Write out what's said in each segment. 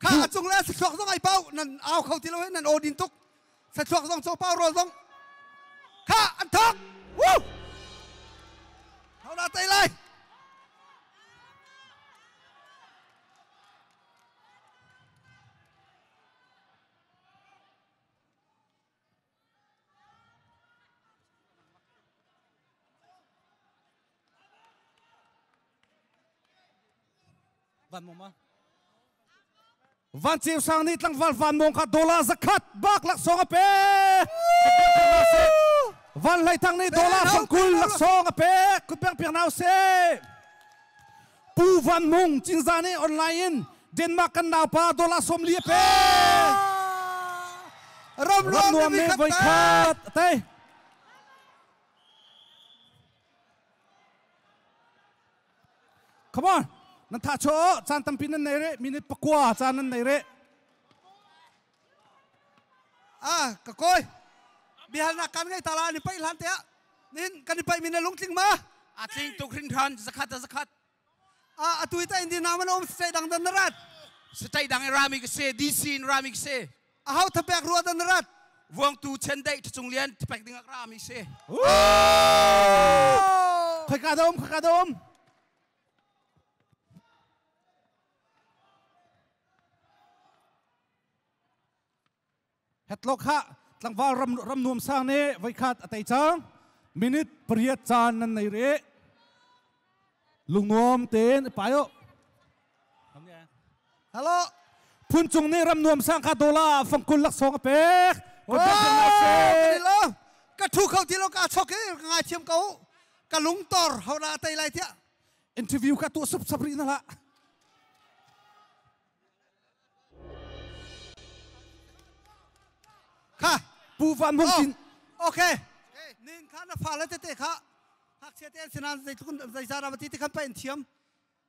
Kha a cung le thluachuak zong ai pau nan au kho ti lo he nan aw din tuk thluachuak zong co pau rawl zong kha an thok Woo! Thona tei lai Van Ceu Sang nih tlangval van mawng kha dola zakhat bak laksawng a pe Van Hlei Thang nih dola fangkul laksawng a pe kutpeng piak nau se Pu Van Mung Cinzah nih online in Denmark kan naupa dollar sawm li a pe. Ram nuam nih voi khat a tei. Come on. Nan tha cho caan tampi nan nei re. Minute pakua caan nan nei re. a ka koi bihalnak kan ngei tala ni pai hlan te ah nin kan i pai min lungtling ma a tling tuk hrin than zakhat zakhat a atui ta indi naman om stai dang dan rat stai dang rami ka se dc in rami ka se a hau thapek ruwa dan rat vuang tu chen dei chung lian thapek ding ak rami se khoi ka dom khoi ka dom Hetlok ha tlangval ram ram nuam sang ne voikhat a tei cang minute pariat caan nan nei re lungnuam ten payo hello phun cung ni ram nuam sang kha dola fangkul lak song a pek ka thu kho ti lo ka chok ke ngai thiam ko ka lung tor hona tai lai thia interview ka tuah sap rih na lah kha pu van mung tin okay nin kha na fa la tete kha hak te an sinan zai tukun zai sa ram ti ti khan pa in thiam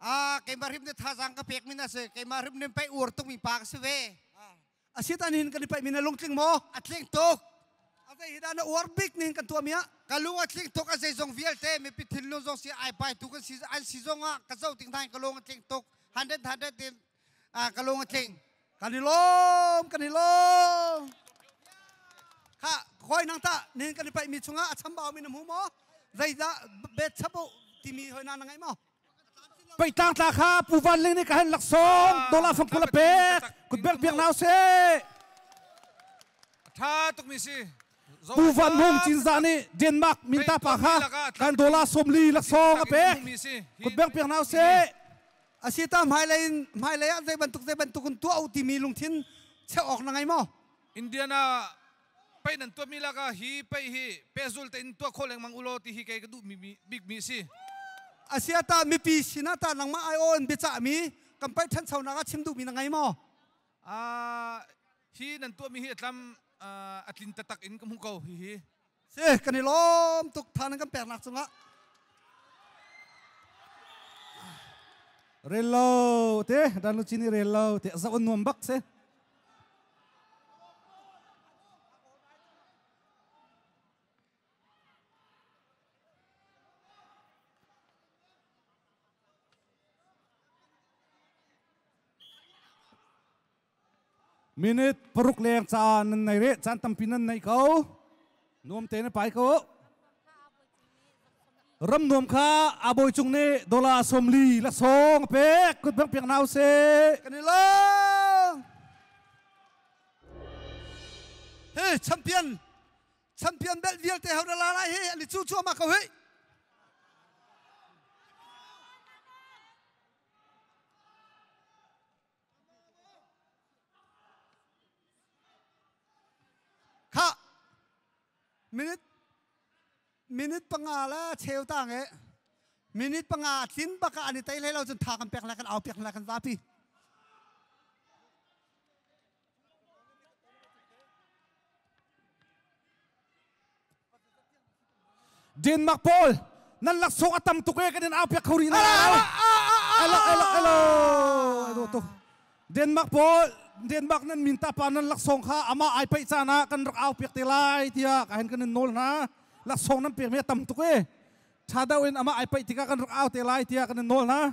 a keima rim de thazang ka pek min ase keima rim nen pai ur tuk mi pa ka se ve asitan hin kan i paihmi na lungtling maw a tling tuk a vei hidan na uar bik nin kan tuahmi ah ka lung a tling tuk a zeizong vialte mipi thin lu zong si ai pai tu kan si an si zong ah ka zo ting thai ka lung a tling tuk hundred hundred in ka lung a tling kan i lom kan i lom ha khoi nang ta nin kan i paihmi chungah a chambau mi na mu maw zeidah bet chapo timi hoi na ngai maw Peitlang tla kha Pu Van Ling nih ka han laksawm dollar samful a pek kut bek biak na usih tha tukmi si Pu Van Hung Cinza nih Denmark minta pa kha kan dollar sawmli laksawm a pek kut bek biak na usih asi ta hmailei in hmailei ah zei bantuk zei bantuk in tuah u timi lungthin cheuh awk na ngei maw Indiana Pei nan tuahmi lakah hi pei hi pehzul tein tuah khawh lengmang u law ti hi kei ka duhmi bikmi a si. Asia ta mipi sinah ta nangmah aiawh in biacahmi kan paih ṭhanchonak ah chim duhmi na ngei maw? Uh, hi nan tuahmi hi a tlam uh, a tlin tatak in ka hmuh ko hihi. Si, kan i lawm tuk than kan pernak cungah. Rel lo te, dan lucini rel lo te, zaon nuam bak se. Minute paruk leng caan nan nei re caan tampi nan nei ko. nuam te na pai ko ram nuam kha a bawi cung nih dollar somli la song pek kut bang piang nau se kan i long he champion champion belt vialte hau la lai he ani chu chu ma ko he Khah! Minute minute panga la cheu tang e minute panga tling bak ah an i tei hlei lo cun tha kan pek lai kan au pek lai kan zapi Denmark pawl nan laksawng a tam tuk e kan in aupiak kho rih na elo elo elo elo tuk Denmark pawl Denmark nan min ta pa nan laksawng kha ama ai paih caan ah kan rak aupiak te lai tiah ka hen kan in nawl hna laksawng nan pek mi a tam tuk e tha deuh in ama ai paih tikah kan rak au te lai tiah kan in nawl hna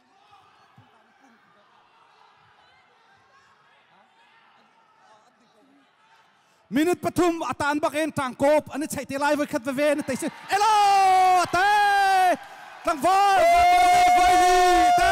phungka na pum minute pathum a tan bak in tangkop an i chai te lai voi khat veve na tei sin elo te tlangval vai te